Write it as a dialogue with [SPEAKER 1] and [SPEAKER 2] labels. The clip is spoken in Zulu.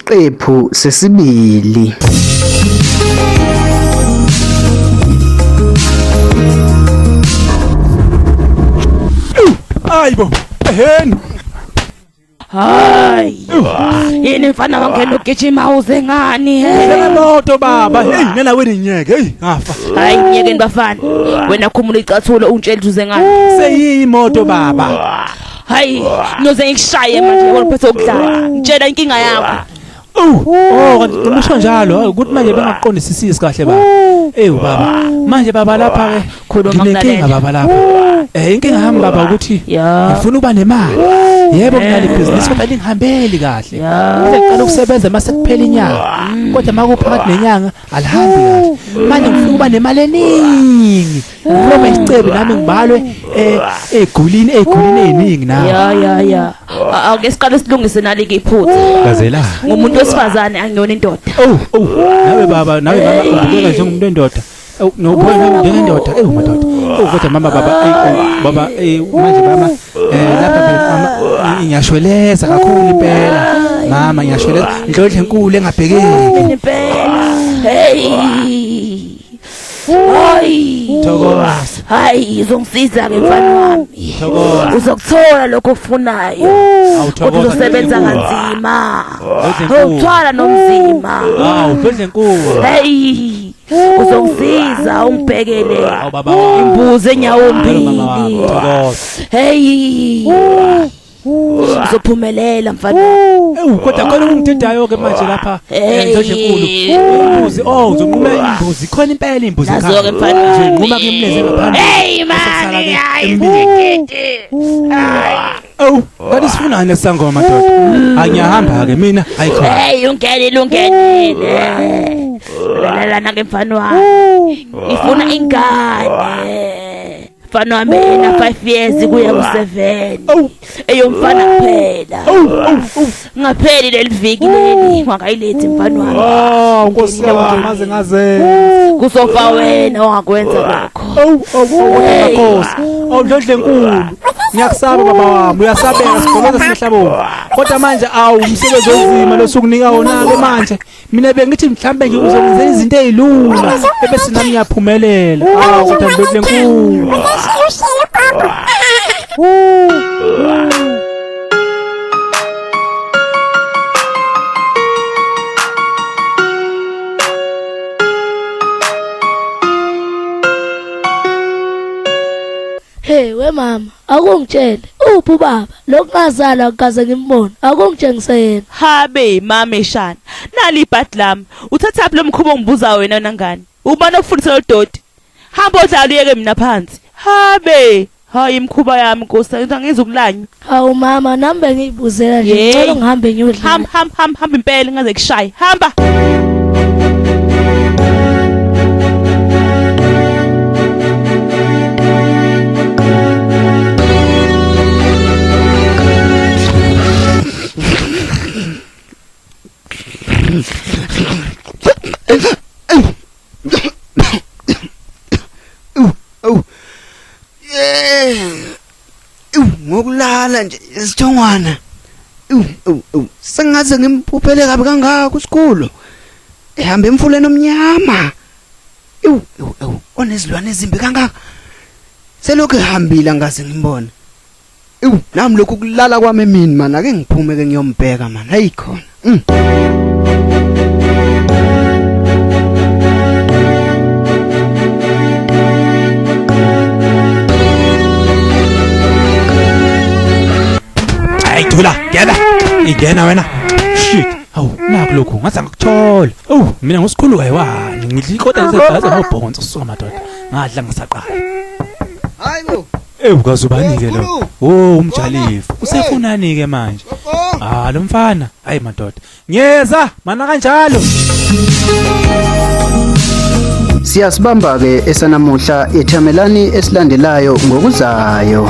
[SPEAKER 1] Isiqephu sesibili.
[SPEAKER 2] Ayibo, eheni. Hayi.
[SPEAKER 3] Yini mfana wangena ugijima uze ngani he? Lena moto baba,
[SPEAKER 2] hey nena wena inyeke, hey ngafa. Hayi inyeke
[SPEAKER 3] bafana. Wena khumula icathulo untshela uze ngani. Seyiyi moto
[SPEAKER 2] baba. hayi
[SPEAKER 3] noze ngikushaye manje ngoba phose ukudlala ngitshela inkinga yakho Oh
[SPEAKER 2] kanti umusho njalo ukuthi manje bengaqondisisisi kahle baba. Ey baba manje baba lapha ke khuluma nginenkinga baba
[SPEAKER 3] lapha.
[SPEAKER 2] Eh inkinga yami baba ukuthi ngifuna uba nemali. Yebo nginale business kodwa lingihambeli kahle. Ngicela ukusebenza mase kuphela inyanga. Kodwa makuphakathi nenyanga alihambi kahle manje ngifuna ukuba nemali eningi noma isicebi nami ngibalwe eh, egulini egulini eziningi na ya ya ya
[SPEAKER 3] A- awuke siqale silungise nali ke iphutha Gazela. ngumuntu
[SPEAKER 2] wesifazane
[SPEAKER 3] angiyona indoda oh oh nawe
[SPEAKER 2] baba nawe mama ubukeka njengomuntu endoda Awu, nobona njengendoda ewu madoda oh kodwa mama baba eyi, oh, baba eh, manje mama Eh lapha mama ngiyashweleza kakhulu impela. Mama ngiyashweleza. Ndlodle enkulu engabhekeki. Impela.
[SPEAKER 3] Hey. Hayi. Thokoza.
[SPEAKER 2] Hayi,
[SPEAKER 3] uzongisiza ke mfana wami. Thokoza. Uzokuthola
[SPEAKER 2] lokho
[SPEAKER 3] ofunayo. Awuthokoza. Uzosebenza kanzima. Awuthwala nomzima. Awudle
[SPEAKER 2] inkulu. Hey.
[SPEAKER 3] uzongisiza ungibhekele imbuzi enyawombili
[SPEAKER 2] hey
[SPEAKER 3] uzophumelela mfana ewu kodwa khona
[SPEAKER 2] ungididayo ke manje lapha endoje enkulu imbuzi oh uzonqumela imbuzi khona impela imbuzi ekhaya nazo ke mfana nje nquma
[SPEAKER 3] ke imleze ngaphandle
[SPEAKER 2] hey mani
[SPEAKER 3] hayi
[SPEAKER 2] Awu, kanti sifunani sangoma ndoda? Angiyahamba ke mina, hayi khona. Hey ungenile
[SPEAKER 3] ungenile. Lalela nake mfana wami. Ngifuna ingane. Mfana wami ena 5 years kuya ku 7. Eyomfana kuphela. Ngapheli leliviki leli ngakayilethi mfana wami. Oh, Nkosi yami maze
[SPEAKER 2] ngaze. Kuzofa
[SPEAKER 3] wena ongakwenza lokho. Awu, awukwenza
[SPEAKER 2] Nkosi. Awudlodle enkulu. Ngiyakusaba baba wami, uyasabeka sigoloza sihlabo. Kodwa manje awu umsebenzi onzima losukunika wona ke manje. mina bengithi mhlambe nje uzokwenza izinto ezilula ebese nami ngiyaphumelela awu kodwa le nkulu
[SPEAKER 4] Hey we mama Akungitshele uphi ubaba lokungazalwa ngikaze ngimbone akungitshengise yena Habe mame
[SPEAKER 3] shana nali ibhadi lami uthathaphi lomkhubo ongibuza wena nangani ubani okufundisa lodoti hamba odlala uyeke mina phansi habe hayi imkhuba yami nkosi angizukulanywa Hawu mama
[SPEAKER 4] nami bengi Uzela nje Yey. ngicela ngihambe ngiyodla. hamba hamba hamba hamba impela
[SPEAKER 3] ngaze kushaye hamba
[SPEAKER 5] Ew ngokulala nje isithongwana. Ew ew ew sengaze ngimphuphele kabi kangaka uSikhulu. Ehamba emfuleni omnyama. Ew ew ew onezilwane ezimbi kangaka. Selokhu ehambile angaze ngimbone. Ew nami lokhu kulala kwami emini mana ake ngiphume ke ngiyombheka mana hayi khona.
[SPEAKER 2] Ayithula ngena ingena wena shit awu nakho lokhu ngathi angikuthola awu mina ngosikhulu kayiwani ngidla ikota ngisebhaza ngobhonzo suka madoda ngadla ngisaqala hayi
[SPEAKER 5] bo Ewu kazubani
[SPEAKER 2] ke lo. Oh umjalifu. Usefunani ke manje? Ah lo mfana. Hayi madoda. Ngiyeza mana kanjalo.
[SPEAKER 1] Siyasibamba ke esanamuhla ethamelani esilandelayo ngokuzayo.